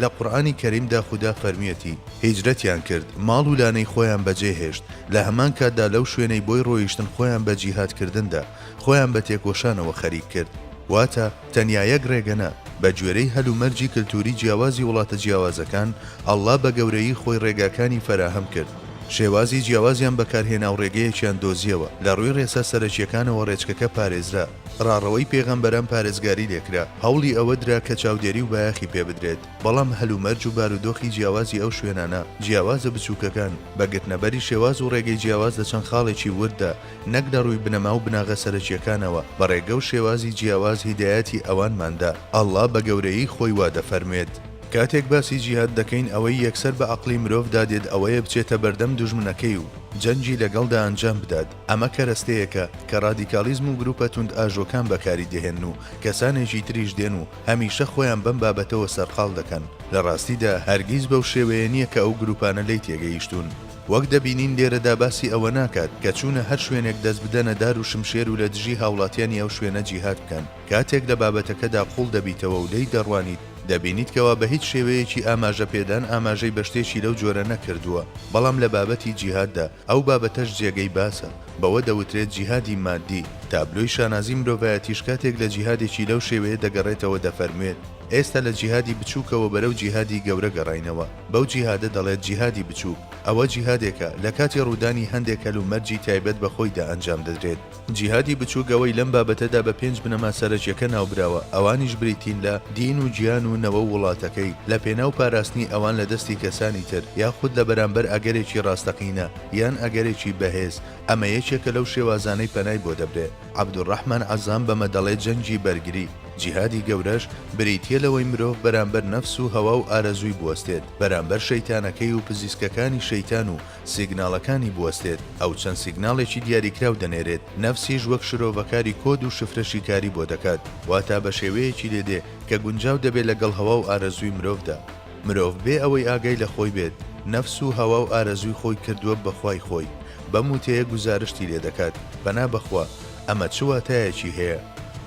لە قورئانی کەریمدا خودا فەرمویەتی، هیجرەتیان کرد، ماڵ و لانەی خۆیان بەجێ هێشت، لە هەمان کاتدا لەو شوێنەی بۆی ڕۆیشتن خۆیان بە جیهاد کردندا، خۆیان بە تێکۆشانەوە خەریک کرد. واتە، تەنیا یەک ڕێگە نا، بە گوێرەی هەل و مەرجی کلتوری جیاوازی وڵاتە جیاوازەکان، اللە بە گەورەیی خۆی ڕێگاکانی فەراهەم کرد، شێوازی جیاوازیان بەکارهێناو ڕێگەیەکیان دۆزیەوە، لە ڕوی ڕێسا سەرەکیەکانەوە ڕێچکەکە پارێزرا. ڕاڕەوەی پێغەمبەران پارێزگاری لێکرا، هەوڵی ئەوە درا کە چاودێری و بایەخی پێ بدرێت، بەڵام هەلومەرج و بارودۆخی جیاوازی ئەو شوێنانە، جیاوازە بچووکەکان، بە گرتنەبەری شێواز و ڕێگەی جیاواز لە چەند خاڵێکی ورددا، نەک لە ڕووی بنەما و بناغە سەرەکییەکانەوە، بە ڕێگە و شێوازی جیاواز هیدایەتی ئەوانمان دا. اللە بە گەورەیی خۆی وا دەفەرموێت. کاتێک باسی جیهاد دەکەین ئەوەی یەکسەر بە عەقڵی مرۆڤدا دێت ئەوەیە بچێتە بەردەم دوژمنەکەی و جەنگی لەگەڵدا ئەنجام بدات، ئەمە کەرەستەیەکە کە ڕادیکاڵیزم و گروپە توندئاژۆکان بەکاری دەهێنن و کەسانێکی تریش دێن و هەمیشە خۆیان بەم بابەتەوە سەرقاڵ دەکەن، لە ڕاستیدا هەرگیز بەو شێوەیە نییە کە ئەو گروپانە لێی تێگەیشتوون. وەک دەبینین لێرەدا باسی ئەوە ناکات کە چوونە هەر شوێنێک دەست بدەنە دار و شمشێر و لە دژی هاوڵاتیانی ئەو شوێنە جیهاد بکەن. کاتێک لە بابەتەکەدا قووڵ دەبیتەوە و لێی دەڕوانیت، دەبینیت کەوا بە هیچ شێوەیەکی ئاماژە پێدان ئاماژەی بە شتێکی لەو جۆرە نەکردووە، بەڵام لە بابەتی جیهاددا، ئەو بابەتەش جێگەی باسە، بەوە دەوترێت جیهادی مادی، تابلۆی شانازی مرۆڤایەتیش کاتێک لە جیهادێکی لەو شێوەیە دەگەڕێتەوە دەفەرموێت، ئێستا لە جیهادی بچووکەوە بەرەو جیهادی گەورە گەڕاینەوە، بەو جیهادە دەڵێت جیهادی بچووک، ئەوە جیهادێکە لە کاتی ڕوودانی هەندێک هەلومەرجی تایبەت بە خۆیدا ئەنجام دەدرێت. جیهادی بچووکەوەی لەم بابەتەدا بە پێنج بنەما سەرەکیەکە ناوبراوە، ئەوانیش بریتین لە، دین و گیان و نەوە و وڵاتەکەی، لە پێناو پاراستنی ئەوان لە دەستی کەسانی تر، یاخود لە بەرامبەر ئەگەرێکی ڕاستەقینە، یان ئەگەرێکی بەهێز، ئەمە یەکێکە لەو شێوازانەی پەنای بۆ دەبرێ. عەبدولڕەحمان عەزام بەمە دەڵێ جەنگی بەرگری، جیهادی گەورەش، بریتیە لەوەی مرۆڤ بەرامبەر نەفس و هەوا و ئارەزووی بوەستێت، بەرامبەر شەیتانەکەی و پزیسکەکانی شەیتان و، سیگناڵەکانی بوەستێت، ئەو چەند سیگناڵێکی دیاریکراو دەنێرێت، نەفسیش وەک شرۆڤەکاری کۆد و شفرە شیکاری بۆ دەکات، واتا بە شێوەیەکی لێ دێ کە گونجاو دەبێت لەگەڵ هەوا و ئارەزووی مرۆڤدا. مرۆڤ بێ ئەوەی ئاگای لە خۆی بێت، نەفس و هەوا و ئارەزووی خۆی کردووە بە خوای خۆی، بەم وتەیە گوزارشتی لێ دەکات، پەنا بە خوا. ئەمە چ واتایەکی هەیە؟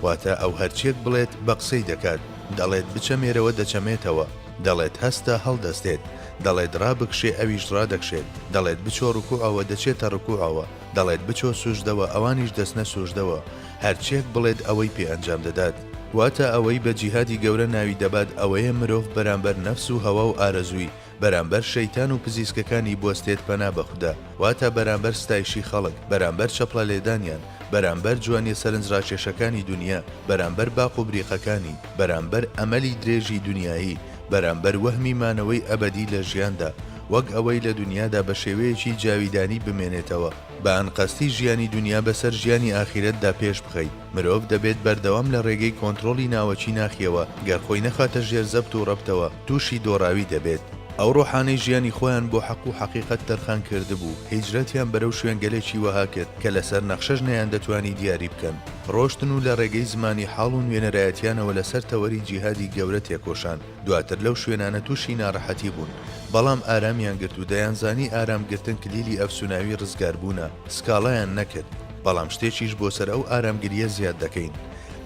واتا ئەو هەرچییەک بڵێت، بە قسەی دەکات، دەڵێت بچەمێرەوە دەچەمێتەوە. دەڵێت هەستە هەڵدەستێت، دەڵێت ڕابکشێ ئەویش ڕادەکشێت، دەڵێت بچۆ ڕکوعەوە دەچێتە ڕکوعەوە، دەڵێت بچۆ سوژدەوە ئەوانیش دەچنە سوژدەوە، هەرچیەک بڵێت ئەوەی پێ ئەنجام دەدات. واتە ئەوەی بە جیهادی گەورە ناوی دەبات ئەوەیە مرۆڤ بەرامبەر نەفس و هەوا و ئارەزووی، بەرامبەر شەیتان و پزیسکەکانی بوەستێت پەنا بە خودا، واتە بەرامبەر ستایشی خەڵک، بەرامبەر چەپڵە لێدانیان، بەرامبەر جوانیە سەرنجڕاکێشەکانی دونیا، بەرامبەر باق و بریقەکانی، بەرامبەر ئەمەلی درێژی دونیایی، بەرامبەر وەهمی مانەوەی ئەبەدی لە ژیاندا، وەک ئەوەی لە دونیادا بە شێوەیەکی جاویدانی بمێنێتەوە، بە ئەنقەستی ژیانی دونیا بەسەر ژیانی ئاخیرەتدا پێش بخەیت. مرۆڤ دەبێت بەردەوام لە ڕێگەی کۆنترۆڵی ناوەکی ناخیەوە گەر خۆی نەخاتە ژێر زەبت و ڕەبتەوە تووشی دۆڕاوی دەبێت. ئەو ڕۆحانەی ژیانی خۆیان بۆ حەق و حەقیقەت تەرخان کردبوو، هیجرەتیان بەرەو شوێنگەلێکی وەها کرد کە لەسەر نەخشەش نەیاندەتوانی دیاری بکەن. ڕۆشتن و لە ڕێگەی زمانی حاڵ و نوێنەرایەتیانەوە لەسەر تەوەری جیهادی گەورە تێکۆشان. دواتر لەو شوێنانە تووشی ناڕەحەتی بوون، بەڵام ئارامیان گرت و دەیانزانی ئارام گرتن کلیلی ئەفسوناوی ڕزگاربوونە، سکاڵایان نەکرد، بەڵام شتێکیش بۆ سەر ئەو ئارامگرییە زیاد دەکەین،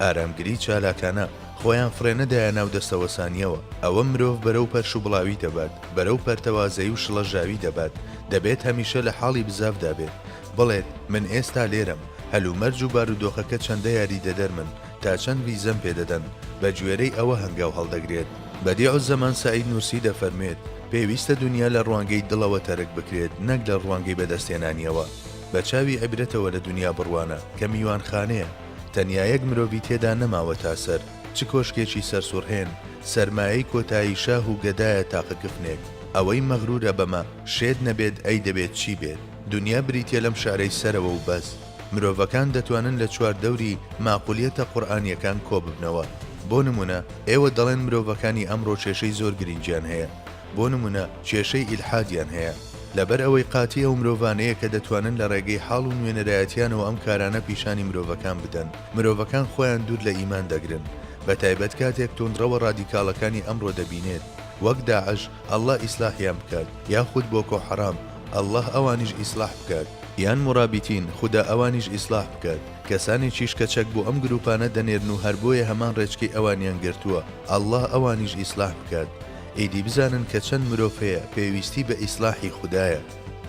ئارامگری چالاکانە، خۆیان فڕێنەدایە ناو دەستەوەسانییەوە، ئەوە مرۆڤ بەرەو پەرشوبڵاوی دەبات، بەرەو پەرتەوازەیی و شڵەژاوی دەبات، دەبێت هەمیشە لە حاڵی بزاڤدا بێت، بڵێت، من ئێستا لێرەم، هەلومەرج و بارودۆخەکە چەندە یاریدەدەرمن، تا چەند ڤیزەم پێ دەدەن؟ بە گوێرەی ئەوە هەنگاو هەڵدەگرێت. بەدیعوزەمان سەعید نورسی دەفەرموێت، پێویستە دونیا لە ڕوانگەی دڵەوە تەرک بکرێت نەک لە ڕوانگەی بەدەستهێنانیەوە. بە چاوی عیبرەتەوە لە دونیا بڕوانە، کە میوانخانەیە، تەنیا یەک مرۆڤی تێدا نەماوەتا سەر، چ کۆشکێکی سەرسوڕهێن، سەرمایەی کۆتایی شاه و گەدایە تاقە کفنێک. ئەوەی مەغرورە بەمە، شێت نەبێت ئەی دەبێت چی بێت؟ دونیا بریتیە لەم شعرەی سەرەوە و بەس. مرۆڤەکان دەتوانن لە چواردەوری ماقولیەتە قورئانیەکان کۆببنەوە، بۆ نمونە ئێوە دەڵێن مرۆڤەکانی ئەمڕۆ کێشەی زۆر گرنگیان هەیە، بۆ نمونە کێشەی ئیلحادیان هەیە، لەبەر ئەوەی قاتی ئەو مرۆڤانەیە کە دەتوانن لە ڕێگەی حاڵ و نوێنەرایەتیانەوە ئەم کارانە پیشانی مرۆڤەکان بدەن، مرۆڤەکان خۆیان دوور لە ئیمان دەگرن، بەتایبەت کاتێک توندڕەوە ڕادیکاڵەکانی ئەمڕۆ دەبینێت وەک داعش، اللە ئیسلاحیان بکات، یاخود بۆکۆ حەرام، اللە ئەوانیش ئیسلاح بکات یان مورابیتین خودا ئەوانیش ئیسلاح بکات کەسانێکیش کە چەک بۆ ئەم گروپانە دەنێرن و هەر بۆیە هەمان ڕێچکەی ئەوانیان گرتووە اللە ئەوانیش ئیسلاح بکات ئیدی بزانن کە چەند مرۆڤ هەیە پێویستی بە ئیسلاحی خودایە.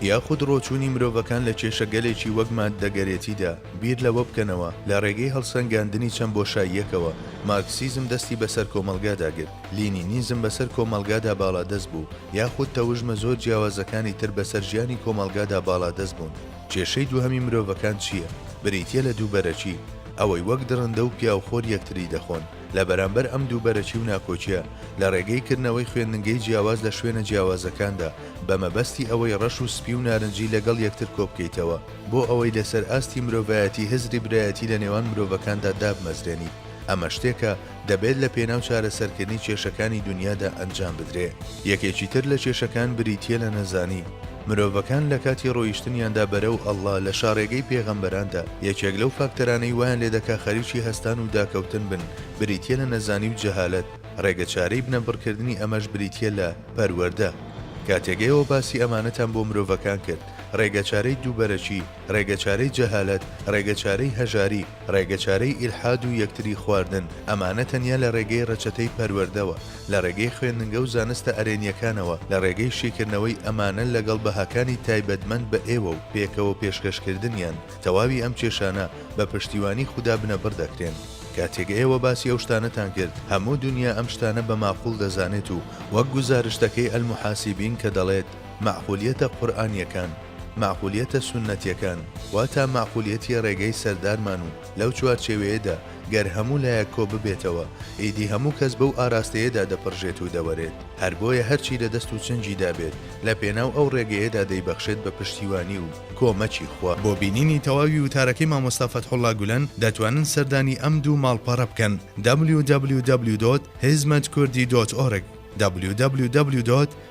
یاخود ڕۆچوونی مرۆڤەکان لە کێشەگەلێکی وەک ماددەگەرێتیدا، بیر لەوە بکەنەوە لە ڕێگەی هەڵسەنگاندنی چەند بۆشاییەکەوە مارکسیزم دەستی بەسەر کۆمەڵگادا گرت، لینینیزم بەسەر کۆمەڵگادا باڵادەست بوو، یاخود تەوژمە زۆر جیاوازەکانی تر بەسەر ژیانی کۆمەڵگادا باڵادەست بوون. کێشەی دووهەمی مرۆڤەکان چییە؟ بریتییە لە دوو بەرەکی، ئەوەی وەک دڕندە و پیاوخۆر یەکتری دەخۆن. لە بەرامبەر ئەم دوو بەرەکی و ناکۆکییە، لە ڕێگەی کردنەوەی خوێندنگەی جیاواز لە شوێنە جیاوازەکاندا، بە مەبەستی ئەوەی ڕەش و سپی و نارنجی لەگەڵ یەکتر کۆبکەیتەوە، بۆ ئەوەی لەسەر ئاستی مرۆڤایەتی هزری برایەتی لە نێوان مرۆڤەکاندا دابمەزرێنیت، ئەمە شتێکە، دەبێت لە پێناو چارەسەرکردنی کێشەکانی دونیادا ئەنجام بدرێ. یەکێکی تر لە کێشەکان بریتییە لە نەزانی. مرۆڤەکان لە کاتی ڕۆیشتنیاندا بەرەو اللە لە شاڕێگەی پێغەمبەراندا، یەکێک لەو فاکتەرانەی وایان لێ دەکا خەریکی هەستان و داکەوتن بن بریتییە لە نەزانی و جەهالەت، ڕێگە چارەی بنەبڕکردنی ئەمەش بریتییە لە، پەروەردە. کاتێک ئێوە باسی ئەمانەتان بۆ مرۆڤەکان کرد، ڕێگەچارەی دووبەرەکی، ڕێگەچارەی جەهالەت، ڕێگەچارەی هەژاری، ڕێگەچارەی ئیلحاد و یەکتری خواردن، ئەمانە تەنیا لە ڕێگەی ڕەچەتەی پەروەردەوە، لە ڕێگەی خوێندنگە و زانستە ئەرێنیەکانەوە، لە ڕێگەی شیکردنەوەی ئەمانە لەگەڵ بەهاکانی تایبەتمەند بە ئێوە و پێکەوە پێشکەشکردنیان، تەواوی ئەم کێشانە بە پشتیوانی خودا بنەبڕ دەکرێن. کاتێک ئێوە باسی ئەو شتانەتان کرد، هەموو دونیا ئەم شتانە بە ماقوڵ دەزانێت و وەک گوزارشتەکەی المحاسبین کە دەڵێت، مەعقولیەتە قورئانیەکان، مەعقولیەتە سوننەتیەکان، واتا مەعقولیەتی ڕێگەی سەردارمان و لەو چوارچێوەیەدا گەر هەموو لایەک کۆببێتەوە ئیدی هەموو کەس بەو ئاراستەیەدا دەپڕژێت و دەوەرێت هەر بۆیە هەرچی لە دەست و چنگیدا بێت لە پێناو ئەو ڕێگەیەدا دەیبەخشێت بە پشتیوانی و کۆمەکی خوا. بۆ بینینی تەواوی وتارەکەی مامۆستا فەتحوڵا گولەن دەتوانن سەردانی ئەم دوو ماڵپەڕە بکەن www. hizmetkurdhi. org www.